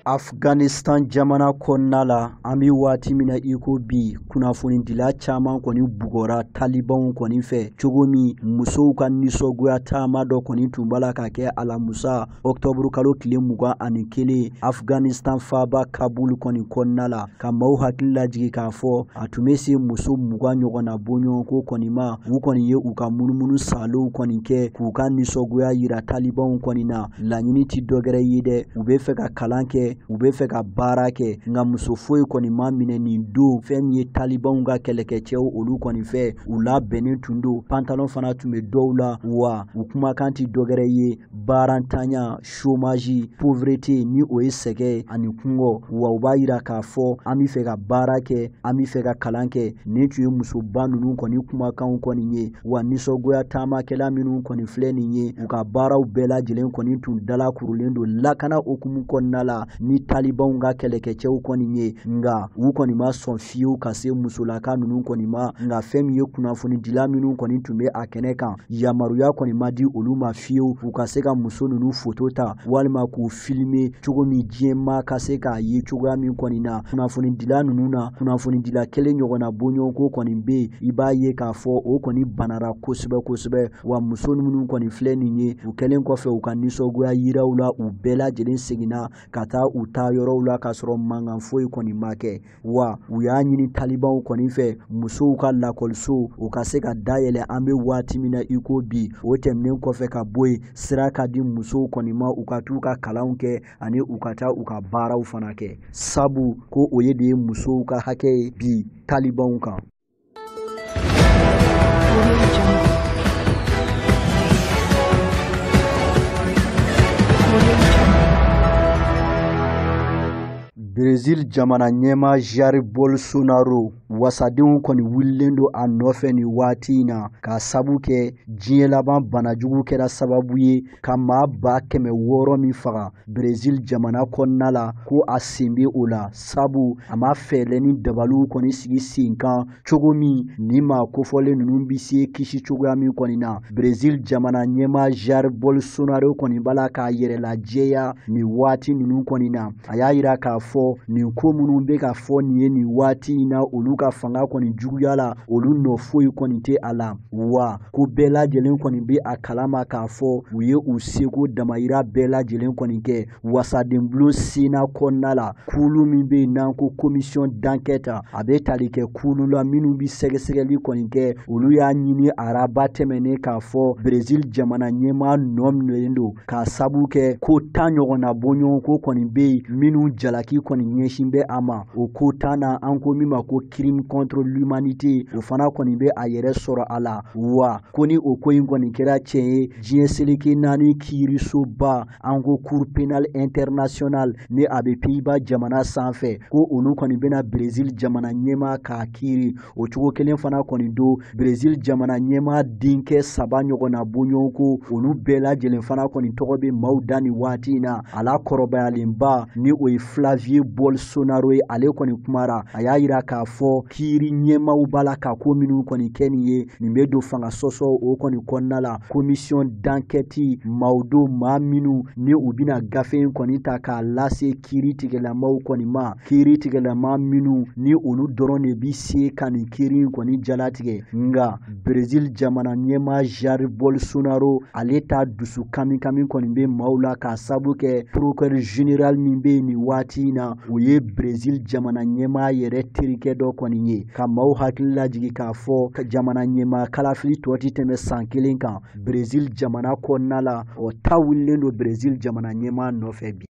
afghanistan jamana kɔnɔna la an bɛ waati min na iko bi kunnafonidila caman kɔni bugɔra talibanw kɔni fɛ cogo min musow ka nisɔgoya taama dɔ kɔni tun b'a la ka kɛ alamusa ɔktɔburu kalo tile mugan ani kelen afghanistan faaba kabul kɔni kɔnɔna la ka maaw hakili lajigi k'a fɔ a tun bɛ se muso mugan ɲɔgɔn na bɔɲɔgɔnko kɔni ma u kɔni ye u ka munumunu salow kɔni kɛ k'u ka nisɔgoya yira talibanw kɔni na laɲini ti dɔgɛrɛ ye dɛ u be fɛ ka kalan kɛ u be fɛ ka baara kɛ nka muso foyi kɔni ma minɛ nin don fɛn min ye talibanw ka kɛlɛkɛcɛw olu kɔni fɛ u labɛnnen tun don pantalon fana tun be dɔw la wa u kumakan ti dɔgɛrɛ ye baarantanya chômage pauvreté ni o ye sɛgɛ ani kungɔ wa u b'a yira k'a fɔ an be fɛ ka baara kɛ an be fɛ ka kalan kɛ nin tun ye musoba nunu kɔni kumakanw kɔni ye wa nisɔngoya taamakɛla minnu kɔni filɛ nin ye u ka baaraw bɛɛ lajɛlen kɔni tun dalakurulen don lakana hukumu kɔnɔna la ni talibanw ka kɛlɛkɛcɛw kɔni ye nka u kɔni ma sɔn fiyewu ka se musolaka ninnu kɔni ma nka fɛn min ye kunnafonidila minnu kɔni tun bɛ a kɛnɛ kan yamaruya kɔni ma di olu ma fiyewu u ka se ka muso ninnu foto ta walima k'u filime cogo min diɲɛ maa ka se k'a ye cogoya min kɔni na kunnafonidila ninnu na kunnafonidila kelen ɲɔgɔnna bɔɲɔgɔnko kɔni bɛ yen i b'a ye k'a fɔ o kɔni banara kosɛbɛ kosɛbɛ wa muso minnu kɔni filɛ nin ye u kɛlen kɔfɛ u ka nisɔngoya yiraw la u bɛɛ lajɛlen seginna ka taa u taa yɔrɔw la k'a sɔrɔ mankan foyi kɔni ma kɛ wa u y'a ɲini talibanw kɔni fɛ musow ka lakɔliso u ka se ka dayɛlɛ an bɛ waati min na i ko bi o tɛmɛnen kɔfɛ ka bɔ yen sira ka di musow kɔni ma u ka t'u ka kalanw kɛ ani u ka taa u ka baaraw fana kɛ sabu ko o ye de ye musow ka hakɛ ye bi talibanw kan Brésil jamana ɲɛmaa Jair Bolsonaro wasadenw kɔni wulilen don a nɔfɛ nin waati in na k'a sabu kɛ diɲɛ laban banajugu kɛra sababu ye ka maa ba kɛmɛ wɔɔrɔ min faga Brésil jamana kɔnɔna la ko a sen bɛ o la sabu a ma fɛɛrɛ ni dabaliw kɔni sigi sen kan cogo min ni maa kofɔlen ninnu bɛ se kisi cogoya min kɔni na Brésil jamana ɲɛmaa Jair Bolsonaro kɔni b'a la k'a yɛrɛ lajɛya nin waati ninnu kɔni na a y'a yira k'a fɔ nin ko minnu bɛ ka fɔ nin ye nin waati in na olu ka fanga kɔni juguya la olu nɔ foyi kɔni tɛ a la wa ko bɛɛ lajɛlen kɔni bɛ a kalama k'a fɔ u ye u seko damayira bɛɛ lajɛlen kɔni kɛ wasadenbulon Sénat kɔnɔna la kulu min bɛ yen n'an ko commission d'enquête a bɛ tali kɛ kulu la minnu bɛ sɛgɛsɛgɛli kɔni kɛ olu y'a ɲini araba tɛmɛnen k'a fɔ Brésil jamana ɲɛmaa nɔ minɛlen don k'a sabu kɛ ko tan ɲɔgɔn na bɔɲɔgɔnko kɔni bɛ yen minnu jalaki kɔni ɲɛsin bɛ a ma o ko tan na an ko min ma ko crime contre l'humanité o fana kɔni bɛ a yɛrɛ sɔrɔ a la wa ko ni o ko in kɔni kɛra tiɲɛ ye diɲɛ seleke naani kiirisoba an ko cour pénale internationale ni a bɛ Pays-Bas jamana sanfɛ ko olu kɔni bɛna Brésil jamana ɲɛmaa k'a kiiri o cogo kelen fana kɔni don Brésil jamana ɲɛmaa denkɛ saba ɲɔgɔn na bɔɲɔgɔnko olu bɛɛ lajɛlen fana kɔni tɔgɔ bɛ maaw da nin waati in na a la kɔrɔbayalenba ni o ye Flavio Bolsonaro ye ale kɔni kumara a y'a yira k'a fɔ kiiri ɲɛmaaw b'a la ka ko minnu kɔni kɛ nin ye nin bɛ don fanga sɔsɔ o kɔni kɔnɔna la commission d'enquête maaw don maa minnu ni u bɛna gafe in kɔni ta k'a lase kiiri tigɛlamaw kɔni ma kiiri tigɛlama minnu ni olu dɔrɔn de bi se ka nin kiiri in kɔni jalatigɛ nga Brésil jamana ɲɛmaa Jair Bolsonaro ale ta dusu kamikami kɔni bɛ maaw la k'a sabu kɛ procureur général min bɛ yen nin waati in na o ye Brésil jamana ɲɛmaa yɛrɛ terikɛ dɔ kɔni ye ka maaw hakili lajigin k'a fɔ jamana ɲɛmaa kalafili tɔ ti tɛmɛ san kelen kan Brésil jamana kɔnɔna la o ta wulilen don Brésil jamana ɲɛmaa nɔfɛ bi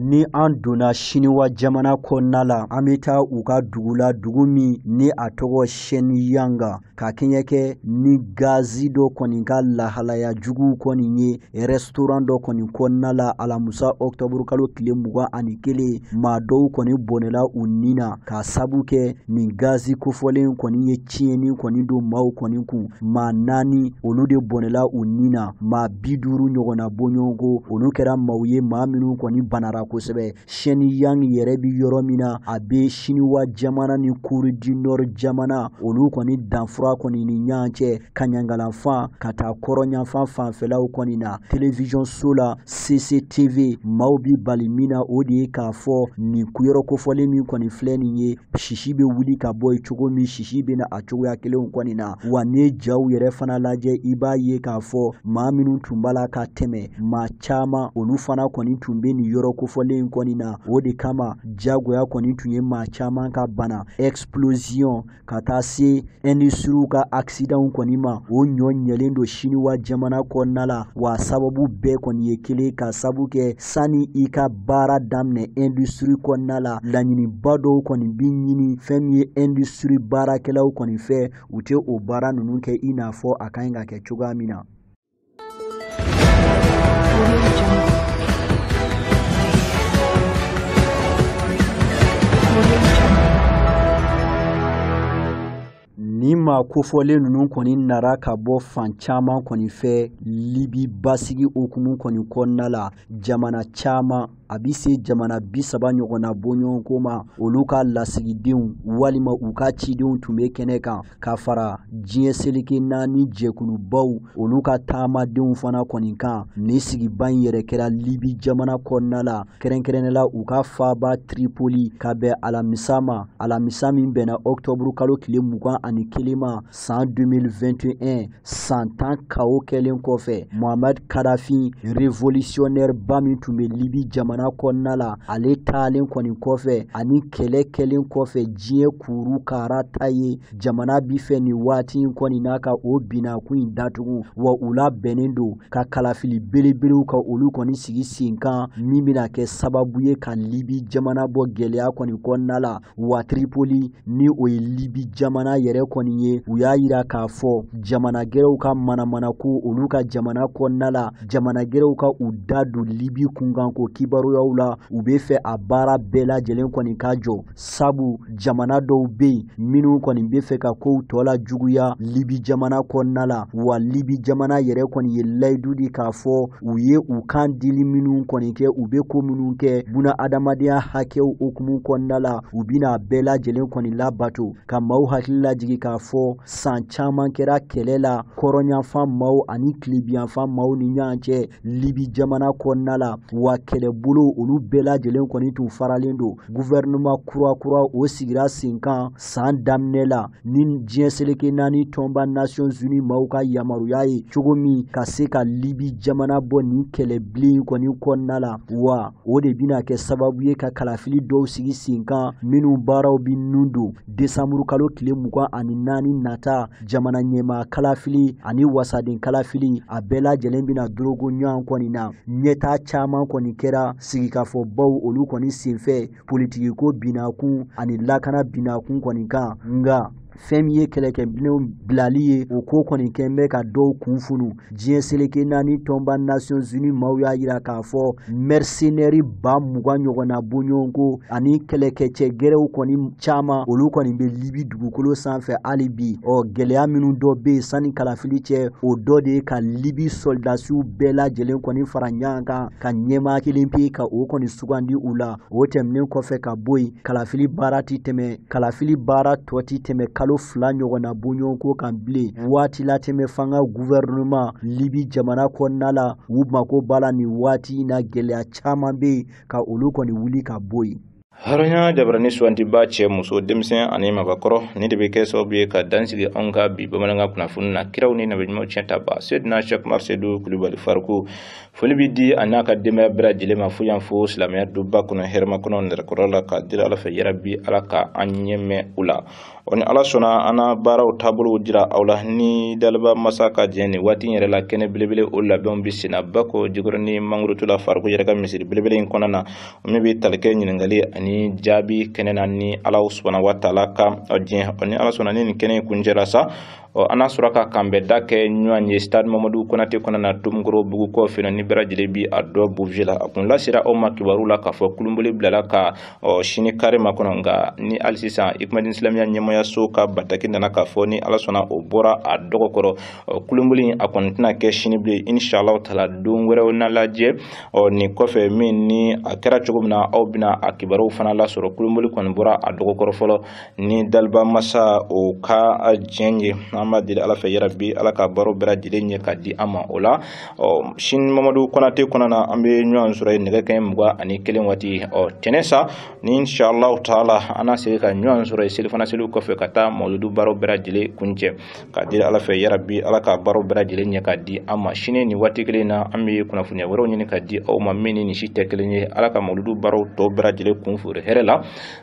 ni an donna siniwa jamana kɔnɔna la an bɛ taa u ka dugu la dugu min ni a tɔgɔ Shenyang ka kɛɲɛ kɛ ni gazi dɔ kɔni ka lahalaya juguw kɔni ye restaurant dɔ kɔni kɔnɔna la alamusa ɔktɔburu kalo tile mugan ani kelen maa dɔw kɔni bɔnɛla u ni na k'a sabu kɛ nin gazi kofɔlen kɔni ye tiɲɛni kɔni don maaw kɔni kun maa naani olu de bɔnɛla u ni na maa bi duuru ɲɔgɔnna bɔɲɔgɔnko olu kɛra maaw ye maa minnu kɔni banara kosɛbɛ Shenyang yɛrɛ bɛ yɔrɔ min na a bɛ siniwa jamana ni Corée du Nord jamana olu kɔni danfura kɔni ni ɲɔgɔn cɛ kaɲangalanfan ka taa kɔrɔnyanfan fanfɛlaw kɔni na télévision so la CCTV maaw bɛ bali min na o de ye k'a fɔ nin kuyɔrɔ kofɔlen min kɔni filɛ nin ye sisi bɛ wuli ka bɔ yen cogo min sisi bɛ na a cogoya kelenw kɔni na wa n'i ye jaw yɛrɛ fana lajɛ i b'a ye k'a fɔ maa minnu tun b'a la ka tɛmɛ maa caman olu fana kɔni tun bɛ nin yɔrɔ kofɔlen in kɔni na o de kama jagoya kɔni tun ye maa caman ka bana explosion ka taa se industries ka accidents kɔni ma o ɲɔgɔn yelen don siniwa jamana kɔnɔna la wa sababu bɛɛ kɔni ye kelen k'a sabu kɛ sani i ka baara daminɛ industrie kɔnɔna la laɲiniba dɔw kɔni bi ɲini fɛn min ye industrie baarakɛlaw kɔni fɛ u tɛ o baara ninnu kɛ i n'a fɔ a ka ɲi ka kɛ cogoya min na nin maa kofɔlen ninnu kɔni nara ka bɔ fan caman kɔni fɛ libi basigi hukumu kɔni kɔnɔna la jamana caman a bi se jamana bi saba ɲɔgɔnna bɔɲɔgɔnko ma olu ka lasigidenw walima u ka cidenw tun bɛ kɛnɛ kan ka fara diɲɛ seleke naani jɛkulubaw olu ka taamadenw fana kɔni kan nin sigiba in yɛrɛ kɛra libi jamana kɔnɔna la kɛrɛnkɛrɛnnɛ la u ka faaba tripoli ka bɛn alamisa ma alamisa min bɛnna ɔktɔburu kalo tile mugan ani kelen ma san 2021 san tan chaos kɛlen kɔfɛ mohamad kadhafi révolutionnaire ba min tun bɛ libi jamana kɔnɔna la ale taalen kɔni kɔfɛ ani kɛlɛ kɛlen kɔfɛ diɲɛ kuru kara ta ye jamana bi fɛ nin waati in kɔni na ka o binnakun in datugu wa u labɛnnen don ka kalafili belebelew ka olu kɔni sigi sen kan min bɛna kɛ sababu ye ka libi jamana bɔ gɛlɛya kɔni kɔnɔna la wa Tripoli ni o ye Libi jamana yɛrɛ kɔni ye u y'a yira k'a fɔ jamana gɛrɛw ka manamanako olu ka jamana kɔnɔna la jamana gɛrɛw ka u da don Libi kunkanko kibaruyaw la u bɛ fɛ a baara bɛɛ lajɛlen kɔni ka jɔ sabu jamana dɔw bɛ yen minnu kɔni bɛ fɛ ka kow tɔ lajuguya Libi jamana kɔnɔna la wa Libi jamana yɛrɛ kɔni ye layidu di k'a fɔ u ye u kan dili minnu kɔni kɛ u bɛ ko minnu kɛ bunadamadenya hakɛw hukumu kɔnɔna la u bɛna bɛɛ lajɛlen kɔni labato ka maaw hakili lajigi k'a fɔ san caman kɛra kɛlɛ la kɔrɔnyanfan maaw ani tilibinyanfan maaw ni ɲɔgɔn cɛ libi jamana kɔnɔna la wa kɛlɛbolo olu bɛɛ lajɛlen kɔni tun faralen don guvɛrɛnɛman kurakura o sigira sen kan san daminɛ la ni diɲɛ seleke naani tɔnba nations unies maaw ka yamaruya ye cogo min ka se ka libi jamana bɔ nin kɛlɛbilen kɔni kɔnɔna la wa o de bɛna kɛ sababu ye ka kalafili dɔw sigi sen kan minnu baaraw bɛnnen don desanburu kalo tile mugan ani naani nata jamana ɲɛmaa kalafili ani wasaden kalafili a bɛɛ lajɛlen bɛna dorogo ɲɔgɔn kɔni na ɲɛtaa caman kɔni kɛra sigikafɔbaw olu kɔni senfɛ politigi ko binakun ani lakana binakun kɔni kan nka fɛn min ye kɛlɛkɛminɛnw bilali ye o ko kɔni kɛn bɛ ka dɔw kun funu diɲɛ seleke naani tɔnba nations unies maaw y'a jira k'a fɔ mɛrisenɛri ba mugan ɲɔgɔnna bɔɲɔgɔnko ani kɛlɛkɛcɛ gɛrɛw kɔni caman olu kɔni bɛ libi dugukolo sanfɛ hali bi ɔ gɛlɛya minnu dɔ bɛ yen sanni kalafili cɛ o dɔ de ye ka libi sɔlidasiw bɛɛ lajɛlen kɔni fara ɲɔgɔn kan ka ɲɛmaa kelen pe ka o kɔni sugandi u la o tɛmɛnen kɔfɛ ka bɔ yen kalafili baara tɔ tɛ tɛmɛ kalo fila ɲɔgɔnna bɔɲɔgɔnko kan bilen waati latɛmɛ fanga guvɛrɛnɛman libi jamana kɔnɔna la u mako b'a la nin waati in na gɛlɛya caman bɛ yen ka olu kɔni wuli ka bɔ yen hɔrɔnya jabaranin sugandibaa cɛ muso denmisɛn ani mabakɔrɔ nin de bɛ kɛ sababu ye ka dan sigi anw ka bi bamanankan kunnafoni na kiraw ni nabiɲumanw tiɲɛtabaa sedina sɛku umar sedu kulubali fariku foli bɛ di a n'a ka denbaya bɛɛ lajɛlen ma fo yan fo silamɛya duba kɔnɔ hɛrɛmakɔnɔ nɛrɛkɔrɔ la k'a deli ala fɛ yarabi ala ka an ɲɛ mɛɛn u la ɔ ni ala sɔnna an na baaraw taabolow jira aw la ni daliba masa ka diɲɛ nin waati yɛrɛ la kɛnɛ belebele o labɛnw bɛ senna bakɔ jikɔrɔnin mangorotu la fariku yɛrɛ ka misiri belebele in kɔnɔna na min bɛ tali kɛ ɲininkali ani jaabi kɛnɛ na ni ala subahana wa taala ka diɲɛ ɔ ni ala sɔnna ni nin kɛnɛ in kuncɛla sa ɔ an na sɔrɔ ka kanbɛnda kɛ ɲɔgɔn ye stade mamadu konate kɔnɔna na tomikɔrɔbugu kɔfɛ ni bɛɛ lajɛlen bi a dɔn buruze la a kun lasera aw ma kibaru la k'a fɔ kulunboli bilala ka ɔ sini kari ma kɔnɔ nka ni hali sisan ikumadin silamɛya ɲɛmɔgɔyaso ka bataki nana k'a fɔ ni ala sɔnna o bɔra a dɔgɔ kɔrɔ ɔ kulunboli a kɔni tɛna kɛ sini bilen inshallah taala don wɛrɛw na lajɛ ɔ nin kɔfɛ min ni a kɛra cogo min na aw bɛna a kibaruw fana lasɔrɔ kulunboli kɔni bɔra a dɔgɔ kɔrɔ fɔlɔ ni daliba masa o ka diɲɛ ye an b'a deli ala fɛ yarabi ala ka baro bɛɛ lajɛlen ɲɛ ka di an ma o la ɔ sini mamadu konate kɔnɔna na an bɛ ɲɔgɔn sɔrɔ yen nɛgɛ kanɲɛ mugan ani kelen waati ɔ tɛnɛn sa inshallah taala an na segin ka ɲɔgɔn sɔrɔ yen selifana seliw kɔfɛ ka taa mawuludu baro bɛɛ lajɛlen kuncɛ k'a deli ala fɛ yarabi ala ka baro bɛɛ lajɛlen ɲɛ ka di an ma sini ni waati kelen na an bɛ kunnafoniya wɛrɛw ɲini ka di aw ma min ni si tɛ kelen ye ala ka mawuludu baro tɔ bɛɛ lajɛlen kun furu hɛrɛ la